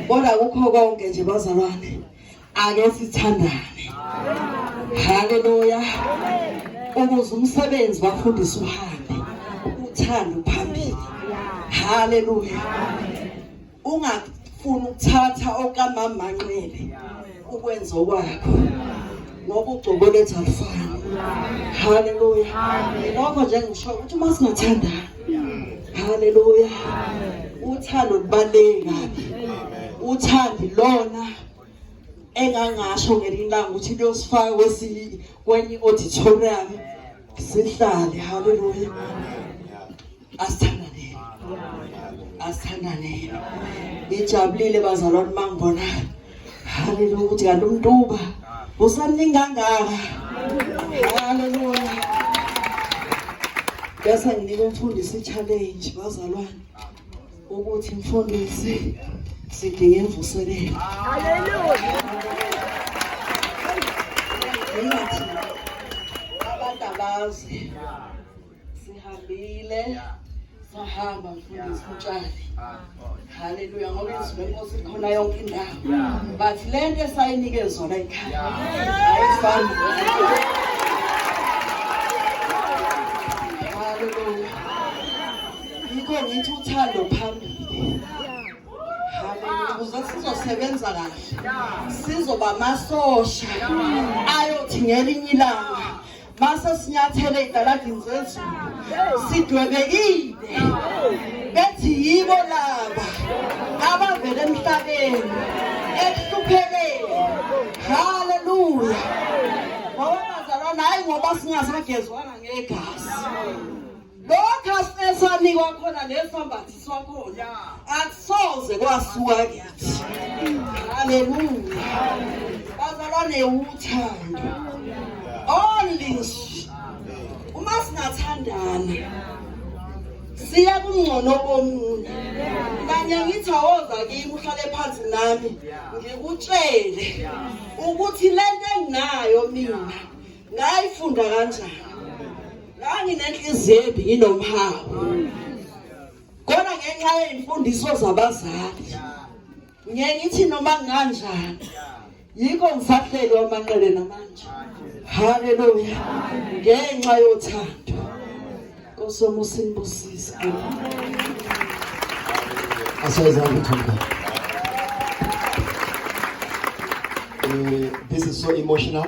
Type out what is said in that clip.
kodwa kukho konke nje bazalwane ake sithandane haleluya ukuze umsebenzi bafundisa uhambe uthando phambili haleluya ungafuni ukuthatha okamama manqele ukwenza okwakho ngoba ugcobo lethu alufani haleluya ngakho nje ngisho ukuthi uma singathandana haleluya uthando lubaluleke kabi uthandi lona engangasho ngelinye ilanga ukuthi liyosifaka kwesinye kwenye i-auditorium sihlale haleluya asithandaneni asithandaneni ngijabulile bazalwane uma ngibona haleluya ukuthi kanti umntuba usamningi kangaka haleluya bese nginika umfundisi i-challenge bazalwane ukuthi mfundisi sidinga imvuselelo haleluya abantu abazi Sihambile. Yeah. sahamba mfundisi utshali haleluya ngoba izwi lenkosi likhona yonke indawo but le nto esayinike zona ekhaya ayifani haleluya yikho ngithi uthando phambili ukuze sizosebenza kahle sizoba amasosha ayothi ngelinye ilanga Mase sinyathele idaladini zethu sidwebekile bethi yibo laba abavele emhlabeni ekuhlupheleni haleluya ngoba bazalwana hayi ngoba singasagezwanga ngegazi lokho esanikwa khona nesambathi swakhona akusoze kwasuka kithi haleluya bazalwane uthando only uma singathandana siya kungcono komunye kanye ngithi awoza kimi uhlale phansi nami ngikutshele ukuthi lento enginayo mina ngayifunda kanjani nganginenhliziyo embi nginomhawu kodwa ngenxa yey'mfundiso zabazali ngiye ngithi noma nginganjani yikho ngisahleli wamanqele namanje haleluya ngenxa yothando nkosomo usinibusise asayizange thanda eh, this is so emotional